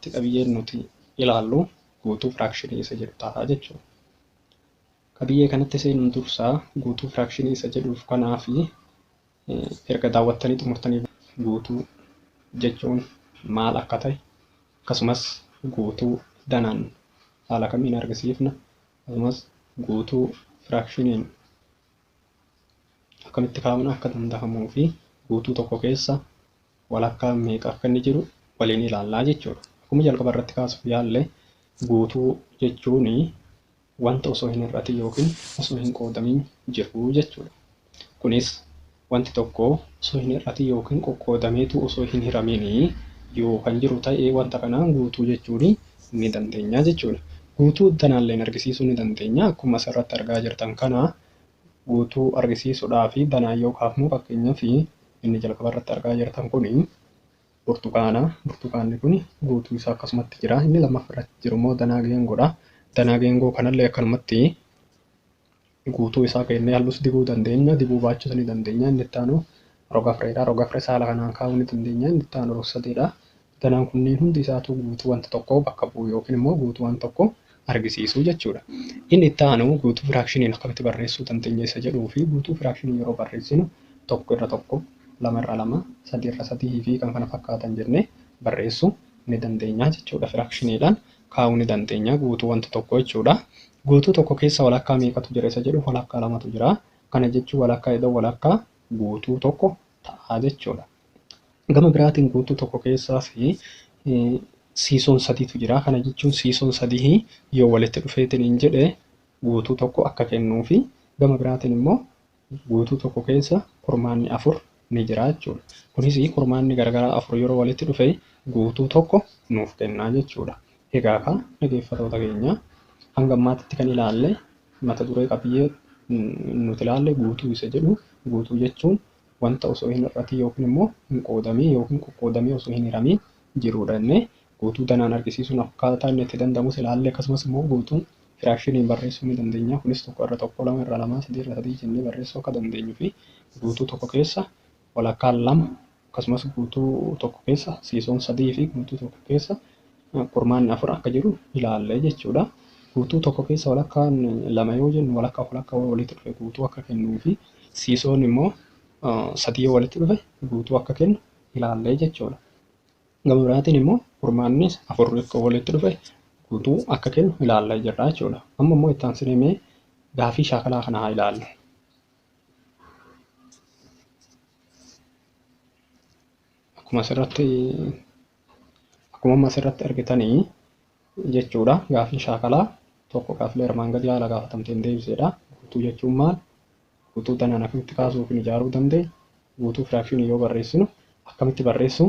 irratti qabiyyeen nuti ilaallu guutuu firaakshinii isa jedhu ta'a jechuudha. Qabiyyee kanatti seenuun dursaa guutuu firaakshinii isa jedhuuf kanaa fi Erga daawwattanii xumurtanii booda guutuu jechuun maal akka ta'e akkasumas guutuu danaan haala kamiin argisiifna akkasumas guutuu firaakshiniin akkamitti kaa'uun akka danda'amuu fi guutuu tokko keessa walakkaan meeqa akka inni jiru waliin ilaallaa jechuudha. Akkuma jalqaba irratti kaasuuf yaalle guutuu jechuun wanta osoo hin hir'atin ykn osoo hin qoodamin jiru jechuu dha. Kunis wanti tokko osoo hin hir'atin ykn qoqqoodameetu osoo hin hiramin yoo kan jiru ta'e wanta kana guutuu jechuun ni dandeenya jechuu dha. Guutuu danaalleen argisiisuu ni dandeenya. Akkuma as irratti argaa jirtan kana guutuu argisiisudhaaf danaan yoo kaafnu fakkeenyaaf inni jalqaba irratti argaa jirtan kuni. burtukaana. Burtukaanni kun guutuu isaa akkasumatti jira. Inni lammaffaa irratti jiru immoo danaa geengoodha. Danaa geengoo kanallee akkanumatti guutuu isaa keennee hallus dibuu dandeenya. Dibuu baachuus ni dandeenya. Inni itti aanu roga fireedha. Roga firee saala kanaan kaa'uu ni dandeenya. Inni itti aanu rog sadeedha. Danaan kunniin hundi isaatuu guutuu wanta tokkoo bakka bu'u yookiin immoo guutuu waan tokko argisiisu jechuudha. Inni itti aanu guutuu firaakshiniin akkamitti barreessuu dandeenya isa jedhuu fi guutuu firaakshinii yeroo barreessinu tokko irra tokko, lama irra lama, sadii irra sadii fi kan kana fakkaatan jennee barreessuu ni dandeenya jechuudha. Firaakshiniidhaan kaa'uu ni dandeenya guutuu wanta tokko jechuudha. Guutuu tokko keessa walakkaa meeqatu jira isa jedhuuf walakkaa lamatu jira. Kana jechuun walakkaa idoo walakkaa guutuu tokko ta'a jechuudha. Gama biraatiin guutuu tokko keessaas siisoon sadiitu jira. Kana jechuun siisoon sadii yoo walitti dhufeetiin hin jedhe guutuu tokko akka kennuu fi gama biraatiin immoo guutuu tokko keessa kurmaanni afur ni jira jechuudha. Kunis kurmaanni garagaraa afur yeroo walitti dhufe guutuu tokko nuuf kennaa jechuudha. Egaa kaa dhageeffatoota keenyaa hanga ammaatitti kan ilaalle mata duree qabiyyee nuti ilaalle guutuu isa jedhu guutuu jechuun wanta osoo hin hir'atiin yookiin immoo hin qoodamiin yookiin qoqqoodamee osoo hin hiramiin jiruudha jennee guutuu danaan argisiisuun akkaataa inni itti danda'amus ilaalle akkasumas immoo guutuun firaakshiniin barreessuu ni dandeenya kunis tokko irra tokko lama irra lamaa sadii irra sadii jennee barreessuu akka dandeenyu fi guutuu tokko keessa walakkaan lama akkasumas guutuu tokko keessa siisoon sadii fi guutuu tokko keessa kurmaanni afur akka jiru ilaalle jechuudha. Guutuu tokko keessa walakkaan lama yoo jennu walakkaaf walakkaa yoo walitti dhufe guutuu akka kennuu fi siisoon immoo sadii yoo walitti dhufe guutuu akka kennu ilaalle jechuudha. Gama biraatiin immoo kurmaannis afur yoo walitti dhufe guutuu akka kennu ilaalle jirra jechuudha. Amma immoo itti aansinee mee gaafii shaakalaa kana haa ilaallu. akkuma asirratti akkuma amma asirratti argitanii jechuudha gaafiin shaakalaa tokko gaafilee armaan gadii haala gaafatamteen deebiseedha guutuu jechuun maal guutuu danaan akkamitti kaasuu yookiin ijaaruu danda'e guutuu firaakshinii yoo barreessinu akkamitti barreessuu